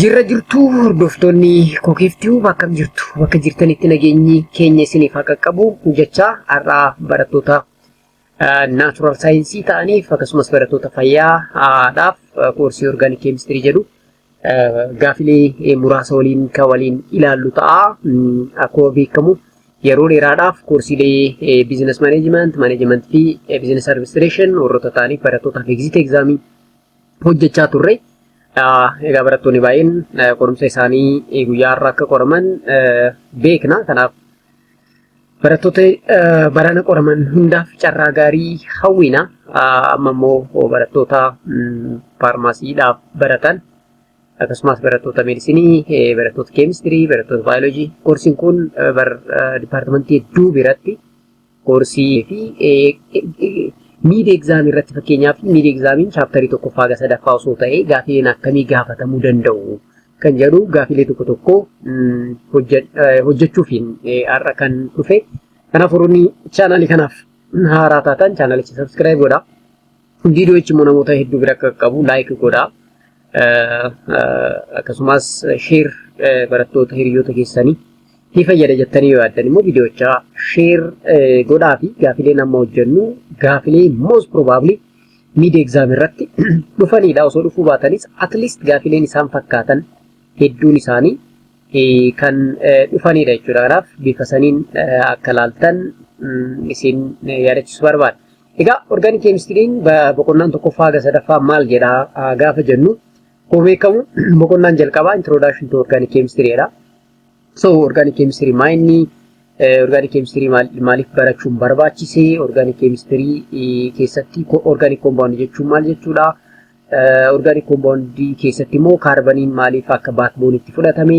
Jirra jirtuu hordoftoonni kokiiftuu bakka jirtu bakka jirtanitti nageenyi keenya isiniif haa qaqqabu jechaa har'aa barattoota naatural saayinsii ta'aniif akkasumas barattoota fayyaadhaaf koorsii orgaanik keemistirii jedhu gaafilee muraasa waliin kan waliin ilaallu ta'a. Akkuma beekamu yeroo dheeraadhaaf koorsiilee biizinas maaneejimenti, maaneejimenti fi biizinas administreeshin warroota ta'aniif barattootaaf egziit egzaamii hojjechaa turre. Egaa barattoonni baay'een qorumsa isaanii guyyaa har'a akka qoraman beekna. Kanaaf barattoota barana qoraman hundaaf carraa gaarii hawwina. Amma immoo barattoota faarmaasiidhaaf baratan akkasumas barattoota meedisinii, barattoota keemistirii, barattoota baayoloojii. Koorsiin kun dipaartimentii hedduu biratti koorsii fi miid egzaamii irratti fakkeenyaaf miid egzaamiin chaaptarii tokkoffaa haga sadaffaa osoo ta'ee gaafileen akkamii gaafatamuu danda'u kan jedhu gaafilee tokko tokko hojjechuufiin har'a kan dhufe. Kanaaf warroonni chaanaalii kanaaf haaraa taatan chaanaalicha sabskiraayib godhaa. Viidiyoochi immoo namoota hedduu bira akka qaqqabu laayik godhaa. akkasumas sheer barattoota hiriyoota keessanii ni fayyada jettanii yoo yaaddan immoo viidiyoocha sheer godhaa fi gaafileen amma hojjennu gaafilee most probably mid exam irratti dhufanidha osoo dhufuu baatanis at least gaafileen isaan fakkaatan hedduun isaanii kan dhufanidha jechuudha kanaaf bifa saniin akka laaltan isin yaadachiisu barbaada. Egaa orgaanik keemistiriin boqonnaan tokkoffaa haga sadaffaa maal jedha gaafa jennu akkuma beekamu boqonnaan jalqabaa introduction to organic chemistry dha. So organic chemistry maa inni organic chemistry maaliif barachuun barbaachise organic chemistry keessatti organic compound jechuun maal jechuudha organic compound keessatti immoo kaarbaniin maaliif akka backbone itti fudhatame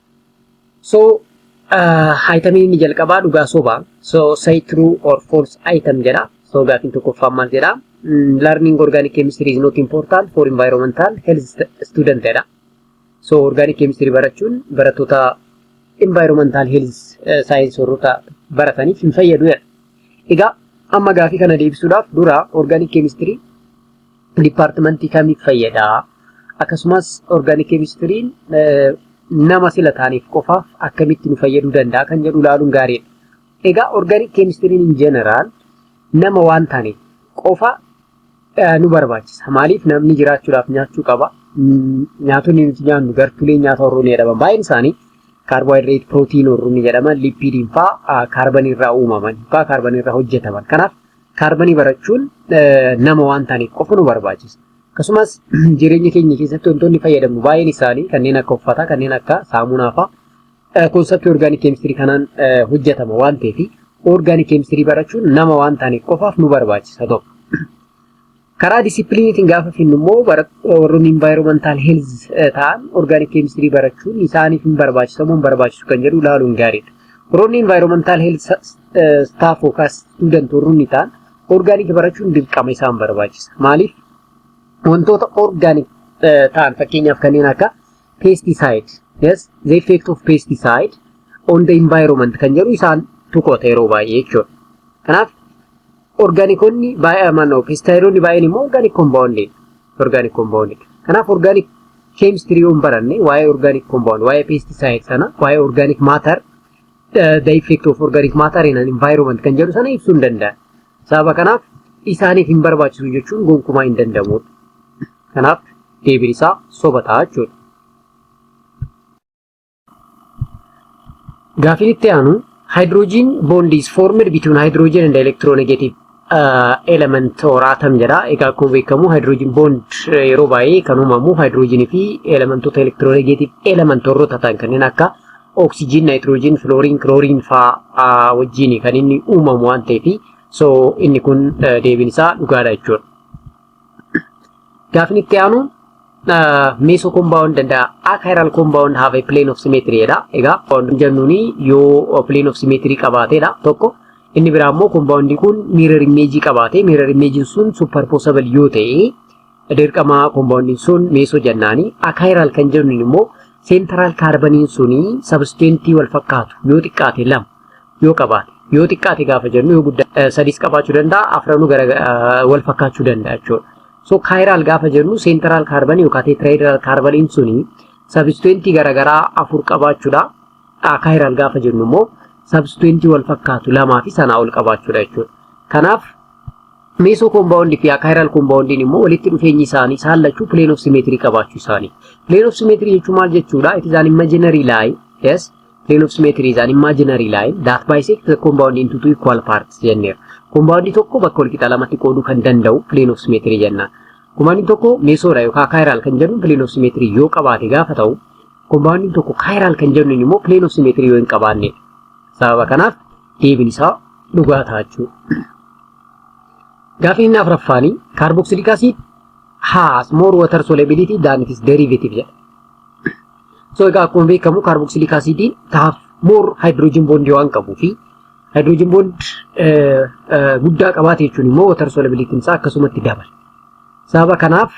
So haayitamiin inni jalqabaa dhugaa sobaa. So say true or false item jedha. So gaafiin tokkoffaan maal jedha? Learning organic chemistry is not important for environmental health student jedha. So organic chemistry barachuun barattoota environmental health science warroota barataniif hin fayyadu jedha. Egaa amma gaafii kana deebisuudhaaf dura organic chemistry Dipaartimantii kamiif fayyada? Akkasumas organik keemistiriin nama sila taaneef qofaaf akkamitti nu fayyaduu danda'a kan jedhu ilaaluun gaariidha. Egaa organik keemistiriin in jeneraal nama waan taaneef qofa nu barbaachisa. Maaliif namni jiraachuudhaaf nyaachuu qaba. Nyaatonni nuti nyaannu gartuulee nyaata horruun jedhaman baay'een isaanii kaarboohayidireet, pirootiin horruun jedhaman, lipiidiin fa'aa kaarbanii irraa uumaman, fa'aa kaarbanii irraa hojjetaman. Kanaaf kaarbanii barachuun nama waan ta'aniif qofa nu barbaachisa. Akkasumas jireenya keenya keessatti wantoonni fayyadamnu baay'een isaanii kanneen akka uffataa, kanneen akka saamunaa fa'a konseptii orgaanik keemistirii kanaan hojjetama waan ta'eef orgaanik keemistirii barachuun nama waan ta'aniif qofaaf nu barbaachisa tokko. Karaa disipiliiniitiin gaafa finnu immoo warroonni environmental health ta'an organic chemistry barachuun isaaniif hin barbaachisu moo hin barbaachisu kan jedhu ilaaluun gaariidha. Warroonni environmental health staff yookaas student warroonni ta'an organic barachuun dirqama isaan barbaachisa. Maaliif? Wantoota organic ta'an fakkeenyaaf kanneen akka pesticide, yes, the effect of pesticide on the environment kan jedhu isaan tuqoota yeroo baay'ee jechuudha. Kanaaf Orgaanikoonni baay'aman yookiin istaayiloonni baay'een immoo orgaanik kombaawundii orgaanik kombaawundii kanaaf orgaanik keemistirii yoon baranne waa'ee orgaanik kombaawundii waa'ee peestisaayid sana waa'ee orgaanik maatar the effect of organic matter in an environment kan jedhu sana ibsuu hin danda'an. Sababa kanaaf isaaniif hin barbaachisu jechuun gonkumaa hin danda'amu. Kanaaf deebiin isaa soba ta'a jechuudha. Gaafiin itti aanu hydrogen bond is formed between hydrogen and electronegative uh, element or atom jedha. Egaa akkuma beekamu hydrogen bond eh, yeroo baay'ee kan uumamu hydrogen fi elementoota electronegative element warroota ta'an kanneen akka oxygen, nitrogen, fluorine, chlorine faa uh, wajjin kan inni uumamu waan ta'eef so inni kun uh, deebiin isaa dhugaadha jechuudha. Gaafin itti aanu meso compound and achiral compound have a plane of symmetry jedha. Egaa compound jennuun yoo plane of symmetry qabaateedha tokko. Inni biraa immoo compound kun mirror image qabaate. Mirror image sun superposable yoo ta'e dirqama compound sun meso jennaani. Achiral kan jennuun immoo central carbon suni substance wal fakkaatu yoo xiqqaate lama. yoo qabaate yoo xiqqaate gaafa jennu yoo guddaa sadiis qabaachuu danda'a afranuu gara wal fakkaachuu danda'a jechuudha. So kaayiraal gaafa jennu seentiraal kaarbanii yookaan teetiraayidiral kaarbaniin suni sabistuwentii garaagaraa afur qabaachuudha. Kaayiraal gaafa jennu immoo sabistuwentii wal fakkaatu lamaa fi sanaa ol qabaachuudha jechuudha. Kanaaf meesoo koombaawundii fi kaayiraal koombaawundiin immoo walitti dhufeenyi isaanii isaan lachuu pileen of simeetirii qabaachuu isaanii. Pileen of simeetirii jechuun maal jechuudha? It is an imaginary line. Yes. Plane of symmetry is an imaginary line that bisects the compound into two equal parts jenneera. Compound tokko bakka walqixa lamatti qooduu kan danda'u plane of symmetry jenna. Compound tokko meesoodha yookaan chiral kan jennu plane of symmetry yoo qabaate gaafa ta'u compound tokko chiral kan jennu immoo plane of symmetry yoo hin qabaanne. Sababa kanaaf deebiin isaa dhugaa ta'a jechuudha. Gaafiin inni afuraffaan kaarboksiliik asiid has more water solubility than its derivative jedha. So egaa akkuma beekamu kaarboksiliik asiidii taaf moor haayidiroojiin boondii waan qabuu fi haayidiroojiin boond guddaa qabaate jechuun immoo watar soolabiliitiin isaa akkasumatti dabala. Sababa kanaaf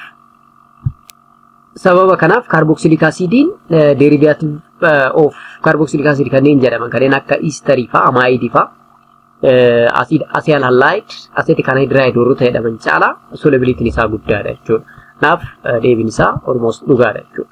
sababa kanaaf kaarboksiliik asiidiin deerivaatiiv of kaarboksiliik asiidii kanneen jedhaman kanneen akka iistarii fa'aa amaayidii fa'aa asiid asiyal halaayid asiitii kan haayidiraayiid warroota jedhaman caalaa soolabiliitiin isaa guddaadha jechuudha. Kanaaf deebiin isaa ormoos dhugaadha jechuudha.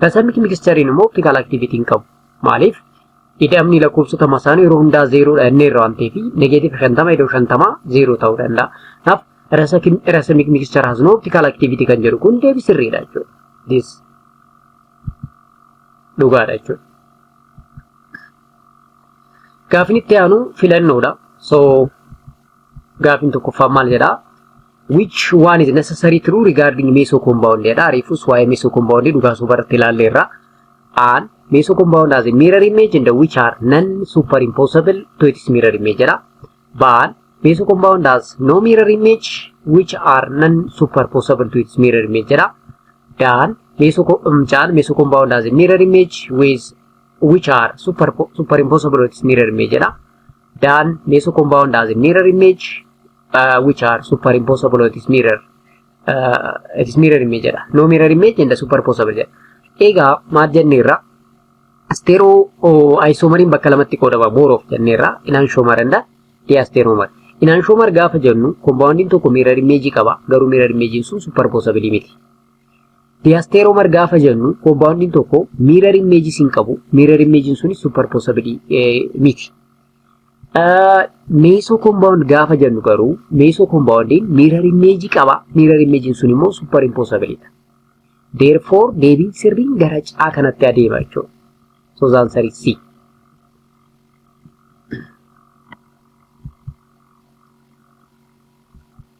Percentage mixture-iin immoo optical activity hin qabu. Maaliif? Ida'amni lakkoofsota masaanuu yeroo hundaa zeeroodha jennee irra waan ta'eef negeetiif shantama idoo shantama zeeroo ta'uu danda'a. Kanaaf racemic mixture has no optical activity kan jedhu kun deebii sirriidha jechuudha. This dhugaadha jechuudha. Gaafin itti aanu filannoodha. So Gaafiin tokkoffaa maal jedhaa? Which one is necessary true regarding meso compound jedha. Reefus waa'ee meso compound dhugaa sobaa irratti ilaalle irra. An meso compound as a mirror image and which are non superimposable to its mirror image jedha. Baan meso compound as no mirror image which are non superposable to its mirror image jedha. Daan meso chaan meso compound as a mirror image with which are super superimposable to its mirror image jedha. Dan meso compound as a mirror image uh, which are superimposable or it is mirror uh, it is mirror image jedha. No mirror image and superimposable jedha. Egaa maal jenneerra? Asteeroo oh, ayisoomariin bakka lamatti qoodama booroof jenneerra. Inaan shoomar and dee asteeroomar. Inaan shoomar gaafa jennu kompaawundiin tokko mirror image qaba garuu mirror image sun superimposable miti. Diasteromar gaafa jennu compoundin tokko mirror image hin qabu. Mirror image sun superposabili miti. Meso compound gaafa jennu garuu meso compoundin mirror image qaba. Mirror image sun immoo superimposabili dha. Therefore deebiin sirriin gara caa kanatti adeema jechuudha. So the answer is C.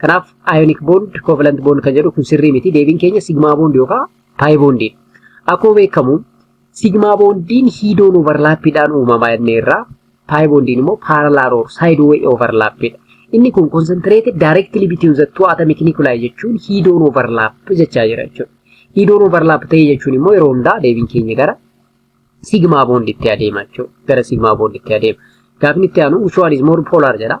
Kanaaf ionic bond, covalent bond kan jedhu kun sirrii miti. Deebiin keenya sigma bond yookaan pi bond. Akkuma beekamu sigma bondiin hiidoon overlaappiidhaan uumama jennee irraa pi bondiin immoo parallel or sideway overlaappiidha. Inni kun concentrated directly between the two atomic nuclei jechuun hiidoon overlap jechaa jira jechuudha. Hiidoon overlap ta'ee jechuun immoo yeroo hundaa deebiin keenya gara sigma bonditti adeema jechuudha. Gara sigma bonditti adeema. Gaafni itti aanu which one is more polar jedha.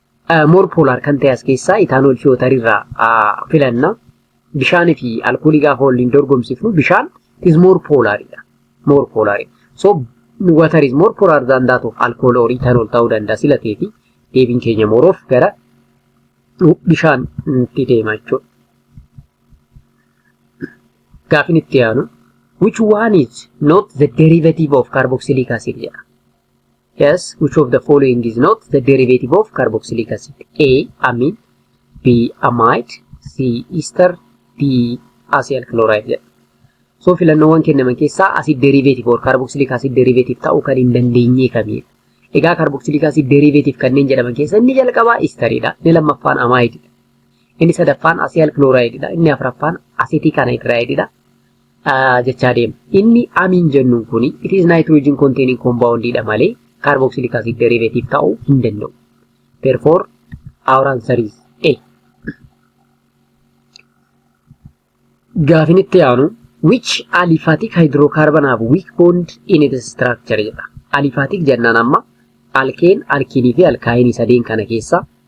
Moor poolaar kan ta'e as keessaa itaanool fiyootarii irraa filanna. Bishaanii fi alkoolii gaafa waliin dorgomsifnu bishaan is moor poolaaridha. Moor poolaari. So water is more polar than that of alcohol or ethanol ta'uu danda'a sila ta'eeti deebiin keenya mooroof gara bishaanitti deema jechuudha. Gaafin itti aanu which one is not the derivative of carboxylic acid jedha. Yes, which of the following is not the derivative of carboxylic acid? A. Amine B. Amide C. Ester D. Acyl chloride jedha. So filannoowwan kennaman keessaa acid derivative or carboxylic acid derivative ta'uu kan hin dandeenye kamiidha? Egaa carboxylic acid derivative kanneen jedhaman keessa inni jalqabaa istaridha, inni lammaffaan amaayididha, inni sadaffaan asiyal kilooraayididha, inni afraffaan aseetik anayidiraayididha, ah, jechaa deema. Inni amiin jennuun kun it is nitrogen containing compound dha malee carboxylic acid derivative ta'uu hin danda'u. Therefore, our answer is A. Gaafin itti aanu which aliphatic hydrocarbon have weak bond in its structure jedha. Aliphatic jennaan amma alkeen, alkiinii fi alkaayinii sadeen kana keessa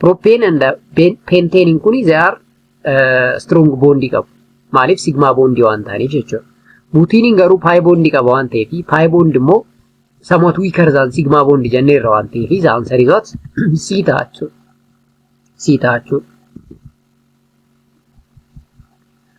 Propane and pentane kun they are uh, strong bond qabu. Maaliif sigma bond waan ta'aniif jechuudha. Butiniin garuu pi bond qaba waan ta'eef pi bond immoo somewhat weaker than sigma bond jennee irra waan ta'eef the answer is what C ta'a jechuudha. C ta'a jechuudha.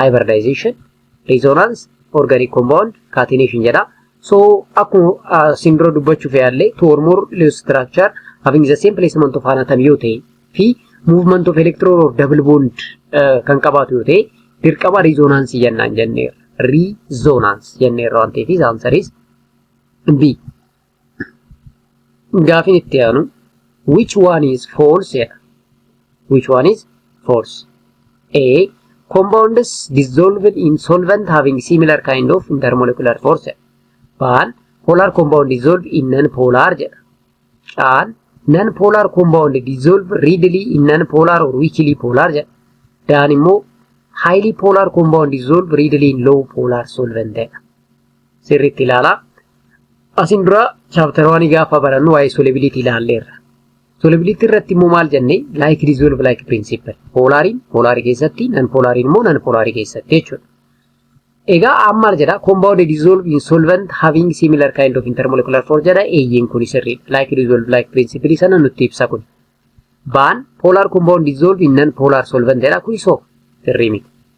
hybridization resonance organic compound catenation jedha so akkuma siin dura dubbachuuf yaallee to or more loose structure having the same placement of an atom yoo ta'e fi movement of electron or double bond uh, kan qabaatu yoo ta'e dirqama resonance jennaan jenneerra resonance jenneerra waan ta'eef answer is B. Gaafiin itti aanu which one is false jedha. Which one is false? A. Compounds dissolved in solvent having similar kind of intermolecular force jedha. Baan polar compound dissolved in non-polar jedha. Caan non-polar compound dissolved readily in non-polar or weakly polar jedha. Daan immoo highly polar compound dissolved readily in low polar solvent jedha. sirriitti ilaalaa. Asiin dura chaaptara waanii gaafa barannu waa'ee solubility ilaalleerra. Solubility irratti immoo maal jenne like dissolve like principle. Poolaariin poolaarii keessatti, nan poolaariin immoo nan poolaarii keessatti jechuudha. Egaa amma maal jedha compound dissolve in solvent having similar kind of intermolecular force jedha eeyyeen kun sirriidha. Like dissolve like principle sana nutti ibsa kun. Baan polar compound dissolve in non polar solvent jedha kun isoo sirrii miti.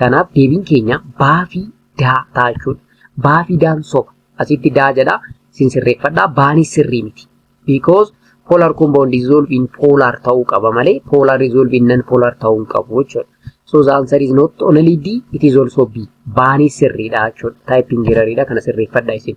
Kanaaf deebiin keenya baa fi daa ta'a jechuudha. Baa fi daan soba. Asitti daa jedha sin sirreeffadha. Baanis sirrii miti. Because polar compound dissolve in polar ta'uu qaba malee polar dissolve in non polar ta'uu hin qabu jechuudha. So the answer is not only D, it is also B. Baanis sirriidha jechuudha. Typing error dha kana sirreeffadha isin.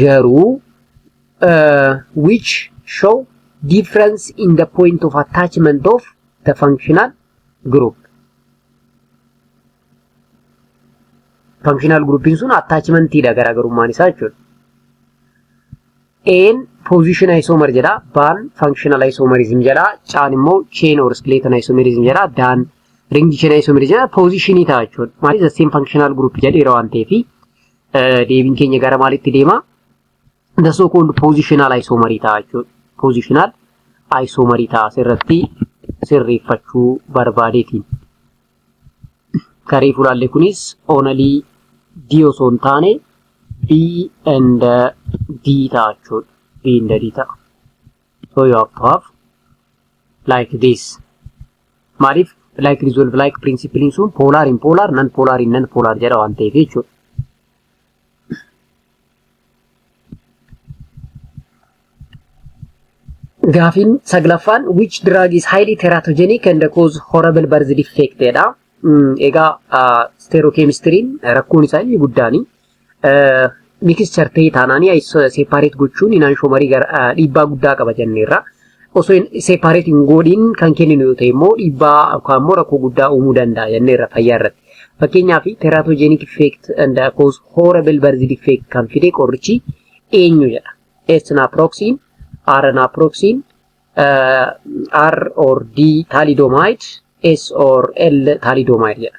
garuu uh, which show difference in the point of attachment of the functional group. Functional groupin sun attachmentiidha garaagarummaan isaa jechuudha. Een position isomer jedha, baan functional isomerism jedha, caan immoo chain or skeleton isomerism jedha, daan ring chain isomerism jedha, position ta'a jechuudha. Maalis the same functional group jedheera waan ta'eefi. deebiin keenya gara maalitti deema? The so called positional isomerii ta'a jechuudha. Positional isomerii ta'a asirratti sirreeffachuu barbaadeetiin. Karee fulaallee kunis onalii D osoo hin taane B and D ta'a jechuudha. B and D ta'a. so you have to have like this maaliif like resolve like principle sun polar in polar non polar in non polar jedha waan ta'eef jechuudha. Gaafiin saglaffaan which drug is highly teratogenic and cause horrible birth defect jedha. Egaa stereochemistry'n rakkoon isaa inni guddaani. Mixture ta'e taanaan separate gochuun inanshomarii dhiibbaa guddaa qaba jenneerra. Osoo separate hin godhin kan kenninu yoo ta'e immoo dhiibbaa yookaan immoo rakkoo guddaa uumuu danda'a jenneerra fayyaa irratti. Fakkeenyaaf teratogenic effect and cause horrible birth defect kan fide qorichi eenyu jedha. S naproxen, R naproxen, R or D thalidomide, S or L thalidomide jedha.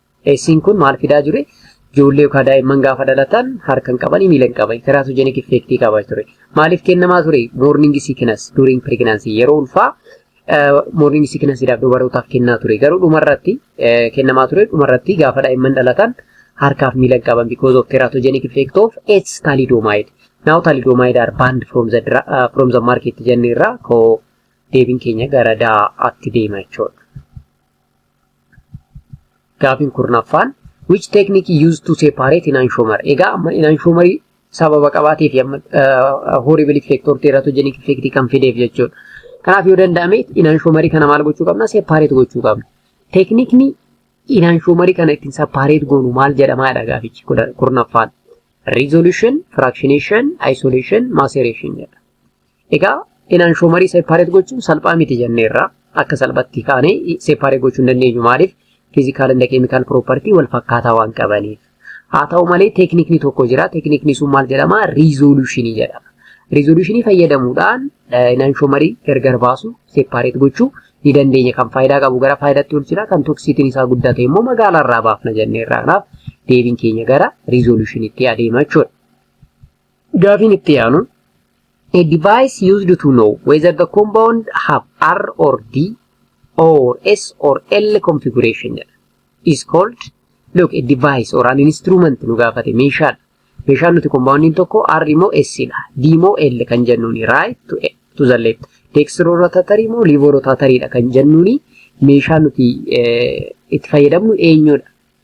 Eessiin kun maal fidaa jure? Ijoollee yookaan daa'imman gaafa dhalatan harka hin qabanii miila hin qaban. Teraatojenik effeektii qaba ture. Maaliif kennamaa ture? Moorningi sikinas during pregnancy yeroo ulfaa moorningi sikinasiidhaaf dubarootaaf kennaa ture. Garuu dhumarratti kennamaa ture dhumarratti gaafa daa'imman dhalatan harkaaf miila hin qaban because of teratogenic effect of S thalidomide. Now thalidomide are banned from the, uh, from the market jenne irraa koo deebiin keenya gara daa'atti deema jechuudha. Gaafiin kurnaffaan which technique used to separate in anshomer egaa amma in anshomerii sababa qabaatee fi amma horrible effect or teratogenic effect kan fideef jechuudha. Kanaaf yoo danda'ame in anshomerii kana maal gochuu qabna separate gochuu qabna. Teeknikni in anshomerii kana ittiin separate goonu maal jedhama jedha gaafichi kurnaffaan. Resolution, fractionation, isolation, maceration jedha. Egaa inanshoomarii seepaareet gochuun salphaa miti jenneerra. Akka salphatti kaanee seepaareet gochuu hin dandeenyu maaliif? Fiizikaal inda keemikaal piroopartii wal fakkaataa waan qabaniif. Haa ta'u malee teeknikni tokko jira. Teeknikni sun maal jedhama? Riizooluushinii jedhama. Riizooluushinii fayyadamuudhaan inanshoomarii gargar baasuu seepaareet gochuu ni dandeenya. Kan faayidaa qabu gara faayidaatti oolchina. Kan toksiitiin isaa guddaa ta'e immoo magaalaa irraa baafna jenneerra. Kanaaf deebiin keenya gara riizooluushiniitti adeema jechuudha. Gaafiin itti aanu a device used to know whether the compound have R or D or S or L configuration jedha. is called look a device or an instrument nu gaafate meeshaadha. Meeshaan nuti compoundin tokko R moo S dha. D moo L kan jennuuni right to, to the left. Dextro rotatory moo levo rotatory dha kan jennuuni meeshaa nuti eh, itti fayyadamnu eenyudha.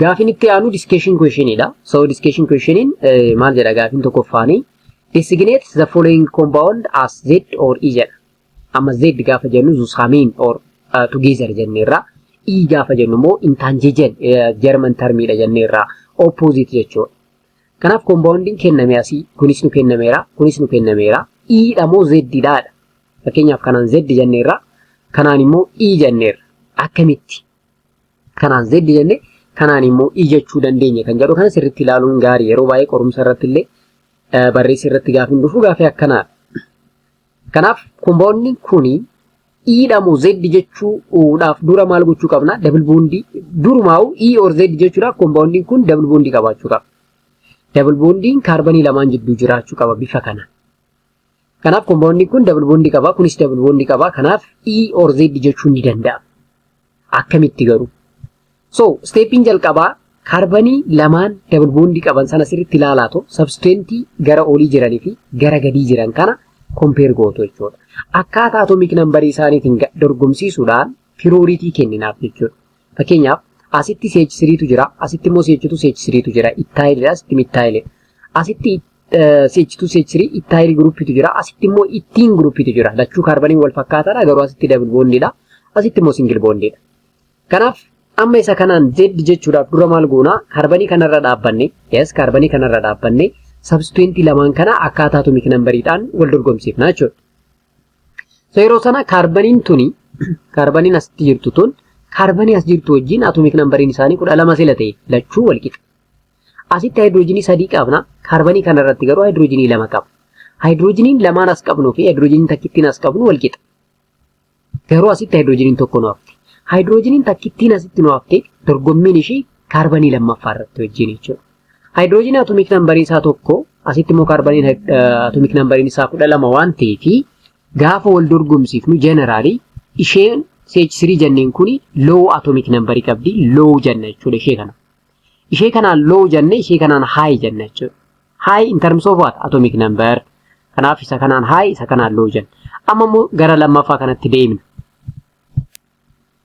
Gaafiin itti aanu discussion question dha. So discussion question maal jedha gaafiin tokkoffaanii designate the following compound as Z or E jedha. Amma Z gaafa jennu zusamiin or uh, together jenneerra. E gaafa jennu immoo intangijen German termiidha jenneerra. Opposite jechuudha. Kanaaf compoundiin kenname asii kunis nu kennameera kunis nu kennameera. E dha moo Z dha? Fakkeenyaaf kanaan Z jenneerra kanaan immoo E jenneerra. Akkamitti? Kanaan Z jenne kanaan immoo I jechuu dandeenya kan jedhu kana sirriitti ilaaluun gaarii yeroo baay'ee qorumsa irratti illee barreessi irratti gaafiin dhufu gaafii akkanaa. Kanaaf kompoonni kuni iidha moo Z jechuudhaaf dura maal gochuu qabna? Dabal boondii durumaa'u E or Z jechuudhaaf kompoondiin kun dabal boondii qabaachuu qaba. Dabal boondiin kaarbanii lamaan jidduu jiraachuu qaba bifa kana. Kanaaf kompaawundiin kun dabal boondii qaba, kunis dabal boondii qaba. Kanaaf E or Z jechuun ni danda'ama. Akkamitti garuu? So, steepiin jalqabaa kaarbanii lamaan dabal boondii qaban sana sirriitti ilaalaa ta'u sabsteentii gara olii jiranii fi gara gadii jiran kana kompeer gootu jechuudha. Akkaataa atomiik nambarii isaaniitiin dorgomsiisuudhaan pirooriitii kenninaaf jechuudha. Fakkeenyaaf asitti CH3tu jira, asitti immoo CH2 CH3tu jira, ittaayilidha, asitti mittaayilidha. Asitti CH2 CH3 ittaayil giruppiitu jira, asitti immoo ittiin giruppiitu jira. Lachuu kaarbaniin wal fakkaataadha, garuu asitti dabul boondiidha, asitti immoo singil boondiidha. Kanaaf amma isa kanaan Z jechuudhaaf dura maal goona? Kaarbanii kanarra dhaabbanne, yes kaarbanii kanarra dhaabbanne, sabstituentii lamaan kana akkaataa atomiik nambariidhaan wal dorgomsiifna jechuudha. So yeroo sana kaarbaniin tuni kaarbaniin asitti jirtu tun kaarbanii as jirtu wajjin atomiik nambariin isaanii kudha lama sila ta'e lachuu wal qixa. Asitti haayidiroojinii sadii qabna kaarbanii kana irratti garuu haayidiroojinii lama qabna. Haayidiroojiniin lamaan as qabnuu fi haayidiroojiniin takkittiin as qabnu wal qixa. Garuu asitti haayidiroojiniin tokko nu hafte. Haayidiroojiniin takkittiin asitti nu hafte dorgommiin ishii kaarbanii lammaffaa irratti wajjin jechuudha. Haayidiroojiin atomiik nambarii isaa tokko asitti immoo kaarbaniin atomiik nambariin isaa kudha lama waan ta'eef gaafa wal dorgomsiifnu jeneraalii isheen CH3 jenneen kuni low atomiik nambarii qabdi low jenna jechuudha ishee kana. Ishee kanaan low jenne ishee kanaan high jenna jechuudha. High in terms of what atomic number kanaaf isa kanaan high isa kanaan low jenna. Amma immoo gara lammaffaa kanatti deemna.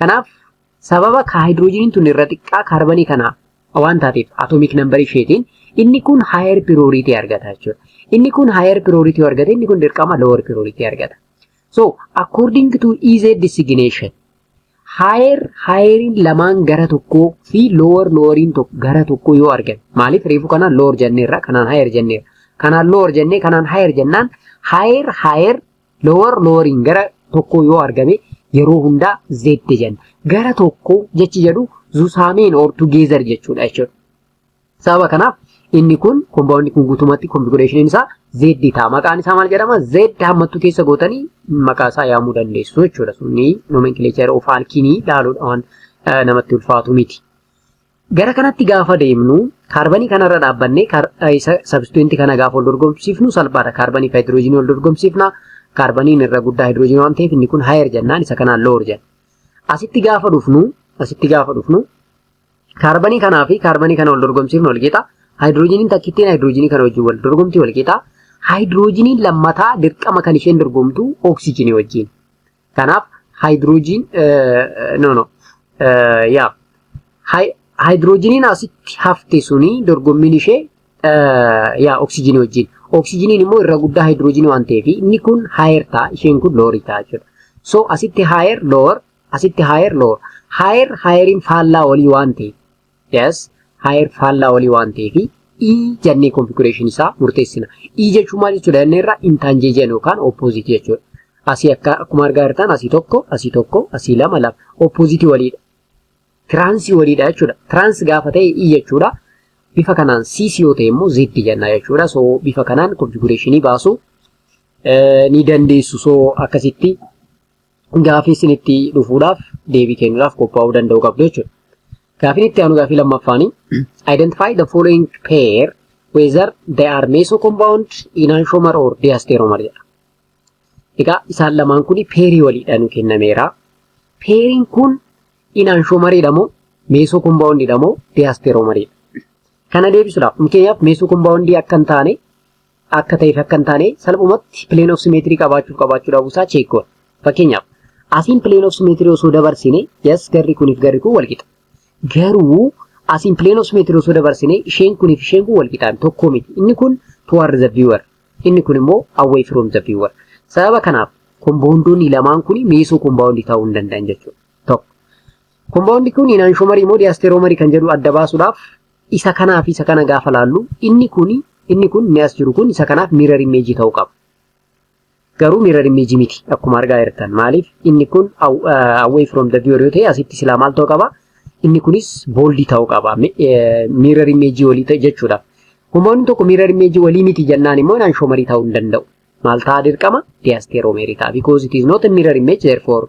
Kanaaf sababa haayidiroojiiniin tun irra xiqqaa kaarbanii kanaa waan taateef atoomik nambarii isheetiin inni kun haayer pirooriitii argata jechuudha. Inni kun haayer pirooriitii argata inni kun dirqama lower pirooriitii argata. So according to EZ designation haayer haayeriin lamaan gara tokkoo fi lower loweriin gara tokkoo yoo argan maaliif reefu kanaan lower jenneerra kanaan haayer jenneerra kanaan lower jennee kanaan haayer jennaan haayer haayer Lower lowering gara tokkoo yoo argame yeroo hundaa Z jenna. Gara tokkoo jechi jedhu zusaameen or together jechuudha jechuudha. Sababa kanaaf inni kun kombaawundi kun guutumatti konfigureeshiniin isaa Z ta'a. Maqaan isaa maal jedhama? Z hammattuu keessa gootanii maqaa isaa yaamuu dandeessu jechuudha. Sunni nomenclature of alkiinii dhaaluudhaan namatti ulfaatu miti. Gara kanatti gaafa deemnu kaarbanii kanarra dhaabbannee sabstituwentii kana gaafa wal dorgomsiifnu salphaadha. Kaarbanii fi haayidiroojiinii wal dorgomsiifna. Kaarbaniin irra guddaa haayidiroojiinii waan ta'eef inni kun haayer jennaan isa kanaan loor jenna. Asitti gaafa dhufnu asitti gaafa dhufnu kaarbanii kanaa fi kaarbanii kana wal dorgomsiifnu wal qixa. Haayidiroojiiniin takkittiin haayidiroojiinii kana wajjin wal dorgomti wal qixa. Haayidiroojiiniin lammataa dirqama kan isheen dorgomtu oksijiinii wajjin. Kanaaf haayidiroojiin no no yaa haayidiroojiniin asitti hafte suni dorgommiin ishee yaa oksijinii wajjin. Oksijiniin immoo irra guddaa haayidiroojinii waan ta'eef inni kun haayer ta'a isheen kun loorii ta'a jechuudha. So asitti haayer loor asitti haayer loor haayer haayeriin faallaa olii waan ta'eef Yes, higher faallaa olii waan ta'eef E jennee configuration isaa murteessina. E jechuun maal jechuudha jennee irraa intanjeejiyan yookaan opposite jechuudha. Asii akka akkuma argaa jirtan asii tokko, asii tokko, asii lama lama. Opposite waliidha. Tiraansii waliidha jechuudha. Tiraans gaafa ta'e E jechuudha. Bifa kanaan CC yoo ta'e immoo Z jenna jechuudha. So bifa kanaan configuration baasuu ni dandeessu. So akkasitti gaafii sinitti dhufuudhaaf deebii kennuudhaaf qophaa'uu danda'uu qabdu jechuudha. Gaafiin itti aanu gaafii lammaffaani. Identify the following pair whether they are meso compound, enantiomer or diasteromer jedha. Egaa isaan lamaan kun peerii waliidha nu kennameera. Peeriin kun enantiomeriidha moo meso compoundidha moo diasteromeridha? Kana deebisuudhaaf fakkeenyaaf meso compoundii akka hin taane akka ta'eef akka hin taane salphumatti plane of symmetry qabaachuuf qabaachuu dhabuu isaa check goona. Fakkeenyaaf asiin plane of symmetry osoo dabarsine yes garri kuniif garri kun wal qixa. Garuu asiin plane of symmetry osoo dabarsine isheen kuniif isheen kun wal qixaan tokko miti. Inni kun toward the viewer inni kun immoo away from the viewer. Sababa kanaaf komboondoonni lamaan kun miisoo kombaawundi ta'uu hin danda'an jechuudha. Tokko. Kombaawundi kun inaanshomarii moo diyaasteeroomarii kan jedhu adda baasuudhaaf Isa kanaa fi isa kana gaafa laallu inni kun inni kun inni as jiru kun isa kanaaf mirror image ta'uu qaba. Garuu mirror image miti akkuma argaa jirtan maaliif inni kun away from the viewer yoo ta'e asitti silaa maal ta'uu qaba inni kunis bold ta'uu qaba mirror image walii ta'e jechuudha. Humnoonni tokko mirror image walii miti jennaan immoo naan shomarii ta'uu hin danda'u. Maal ta'a dirqama diasteromery ta'a because it is not a mirror image therefore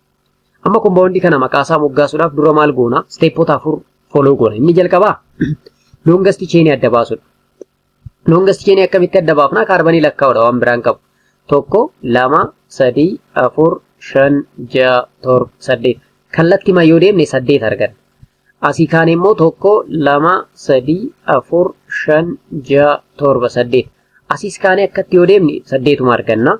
Amma kompaawundii kana maqaa isaa moggaasuudhaaf dura maal goona? Isteepota afur foloo goona. Inni jalqabaa loongasti cheenii adda baasuudha. Loongasti cheenii akkamitti adda baafna? Kaarbanii lakkaa'uudha waan biraan qabu. Tokko, lama, sadii, afur, shan, ja'a, torba, saddeet. Kallattimaan yoo deemne saddeet arganna. Asii kaan immoo tokko, lama, sadii, afur, shan, ja'a, torba, saddeet. Asiis kaanee akkatti yoo deemne saddeetuma arganna.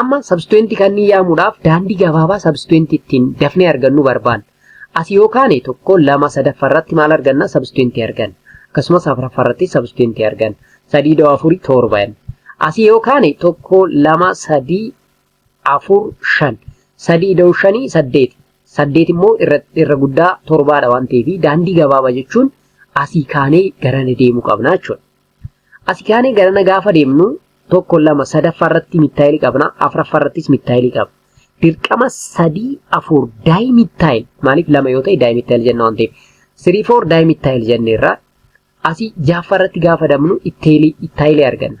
Amma sabstituentii kanneen yaamuudhaaf daandii gabaabaa sabstituentii ittiin dafnee argannu barbaanna. As yoo kaane tokko lama sadaffaa irratti maal arganna sabstituentii arganna. Akkasumas afraffaa irratti sabstituentii arganna. Sadii da'oo afurii torba jenna. As yoo kaane tokko lama sadii afur shan. Sadii da'oo shanii saddeeti. Saddeet immoo irra, irra guddaa torbaadha waan ta'eef daandii gabaabaa jechuun asii kaanee garana deemuu qabna jechuudha. Asi kaanee garana gaafa deemnu tokko lama sadaffaa irratti mittaayilii qabna afraffaa irrattis mittaayilii qabna. Dirqama sadii afur daay mittaayil maaliif lama yoo ta'e daay mittaayil jenna waan ta'eef sirii foor daay mittaayil jenneerra asi jaaffaa irratti gaafa deemnu ittaayilii arganna.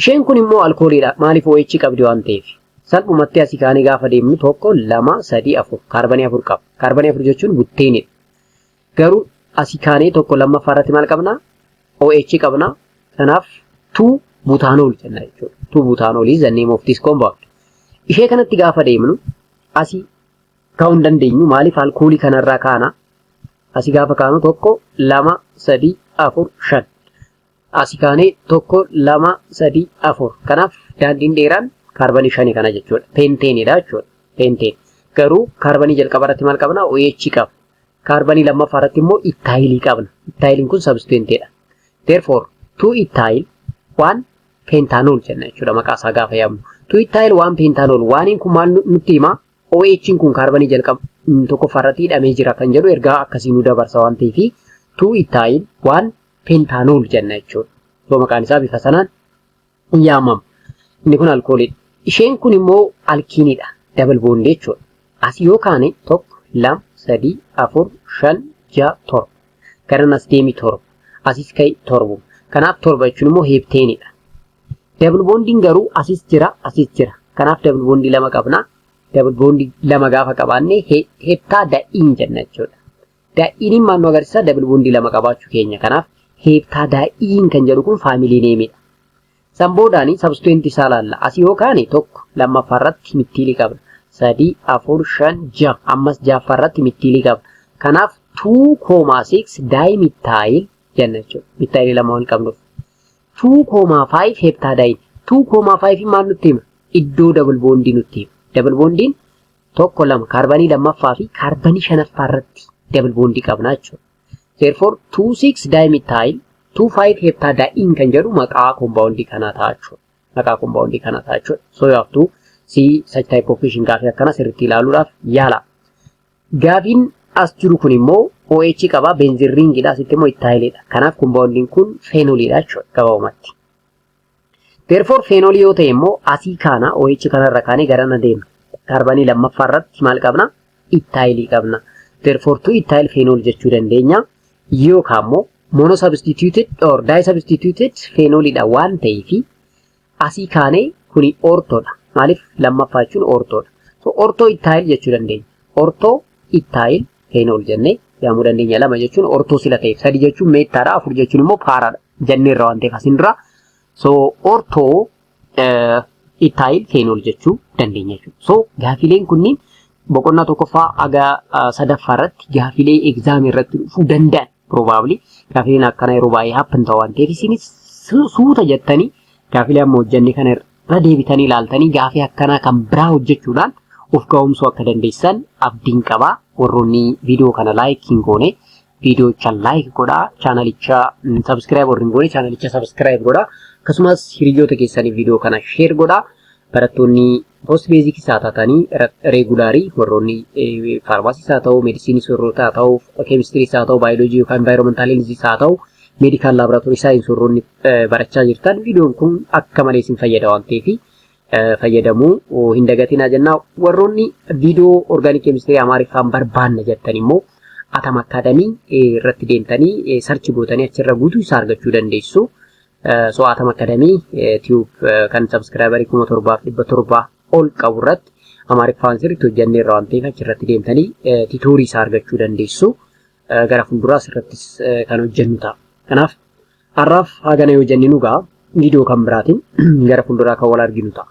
Isheen kun immoo alkooliidha. Maaliif OH qabdi waan ta'eef. Salphumatti asii kaanee gaafa deemnu tokko, lama, sadii, afur. Kaarbanii afur qaba. Kaarbanii afur jechuun butteenidha. Garuu asii kaanee tokko lammaffaa irratti maal qabna? OH qabna. Kanaaf tuu butaanool jenna jechuudha. Tuu butaanoolii is the name of this compound. Ishee kanatti gaafa deemnu asii kaa'uu hin dandeenyu. Maaliif alkoolii kanarraa kaana? Asii gaafa kaanu tokko, lama, sadii, afur, shan. Asi kaanee tokko, lama, sadii, afur. Kanaaf daandiin dheeraan kaarbanii shani kana jechuudha. Peenteenidha jechuudha. Peenteen. Garuu kaarbanii jalqaba irratti maal qabna? OH qabna. Kaarbanii lammaffaa irratti immoo ittaayilii qabna. Ittaayiliin kun sabstituentedha. Therefore, two ittaayil waan peentaanool jenna jechuudha maqaa isaa gaafa yaamnu. Two ittaayil waan peentaanool waaniin kun maal nutti hima? OH'n kun kaarbanii jalqaba tokkoffaa irratti hidhamee jira kan jedhu ergaa akkasii nu dabarsa waan ta'eef two ittaayil waan pentaanol jenna jechuudha. Yoo maqaan isaa bifa sanaan hin yaamamu. Inni kun alkooliidha. Isheen kun immoo alkiiniidha. Dabal boondii jechuudha. As yoo kaane tokko, lama, sadii, afur, shan, ja'a, torba. Garan as deemi torba. Asis ka'i torba. Kanaaf torba jechuun immoo heepteeniidha. Dabal boondiin garuu asis jira, asis jira. Kanaaf dabal boondii lama qabna. Dabal boondii lama gaafa qabaanne heptaa da'iin jenna jechuudha. Daa'iiniin maal nu agarsiisa? Dabal boondii lama qabaachuu keenya. Kanaaf heeptaa daa'iin kan jedhu kun faamilii neemidha. San boodaan sabstuweentii isaa laalla. Asii yoo kaane tokko lammaffaa irratti mittiilii qabna. Sadii, afur, shan, ja'a. Ammas ja'affaa irratti mittiilii qabna. Kanaaf 2,6 daayimittaayil jenna jechuudha. Mittaayilii lama waan qabnuuf. 2,5 heeptaa daa'iin. 2,5 maal nutti hima? Iddoo dabal boondii nutti hima. Dabal boondiin tokko lama kaarbanii lammaffaa fi kaarbanii shanaffaa irratti double bond qabna jechuudha. Therefore 26 dimethyl 25 heptadiene kan jedhu maqaa compound kanaa ta'a jechuudha. Maqaa compound kanaa ta'a jechuudha. So you have to see such type of question gaafii akkana sirriitti ilaaluudhaaf yaala. Gaafiin as jiru kun immoo OH qaba benzin ringidha asitti immoo ittaayilidha. Kanaaf compoundiin kun feenoliidha jechuudha gabaabumatti. Therefore feenoolii yoo ta'e immoo asii kaana OH kanarra kaanee garana deemna. Kaarbanii lammaffaa irratti maal qabna? Ittaayilii qabna. Therefore two ittaayil feenool jechuu dandeenya. Yookaan immoo mono substituted or di substituted feenooliidha waan ta'eef asii kaanee kuni ortoodha. Maaliif lammaffaa jechuun ortoodha. So ortoo ittaayil jechuu dandeenya. Ortoo ittaayil feena ol jennee yaamuu dandeenya lama jechuun ortoo sila ta'eef sadi jechuun meettaadha afur jechuun immoo paaraadha jenneerra waan ta'eef asin dura so ortoo ittaayil feena ol jechuu dandeenya jechuudha so gaafiileen kunniin boqonnaa tokkoffaa haga sadaffaa irratti gaafiilee egzaamii irratti dhufuu danda'an probably gaafiileen akkana yeroo baay'ee happen ta'u waan ta'eef isinis suuta jettanii gaafiilee amma hojjenne kana Irra deebitanii ilaaltanii gaafii akkanaa kan biraa hojjechuudhaan of ga'oomsuu akka dandeessan abdiin qaba. Warroonni viidiyoo kana laayik hin goone viidiyocha laayik godhaa. Chaanalicha sabiskiraayib warri hin goone chaanalicha sabiskiraayib godhaa. Akkasumas hiriyoota keessaniif viidiyoo kana sheer godhaa. Barattoonni post beezikii isaa taatanii reegulaarii warroonni faarmaasii isaa ta'u, meedisinii soorroota haa ta'u, keemistirii isaa ta'u, baayoloojii yookaan envaayiroomentaalii isaa ta'u, meedikaal laaboraatoorii saayinsii warroonni barachaa jirtan viidiyoon kun akka malee isin fayyada waan ta'eef fayyadamuu hin dagatinaa jennaa warroonni viidiyoo orgaanik keemistirii amaariffaan barbaanna jettan immoo atam akkaadamii irratti deemtanii sarchi gootanii achirra guutuu isaa argachuu dandeessu. So atam akkaadamii tiyuub kan sabskiraayibarii kuma torbaaf dhibba torbaa ol qabu irratti amaariffaan sirriitti hojjannee irra waan ta'eef achirratti deemtanii titoorii isaa argachuu dandeessu. Gara fuulduraa asirrattis kan hojjennu ta'a. Kanaaf Har'aaf haagana yoo jenne nu ga'a. Viidiyoo kan biraatiin gara fuulduraa kan wal arginu ta'a.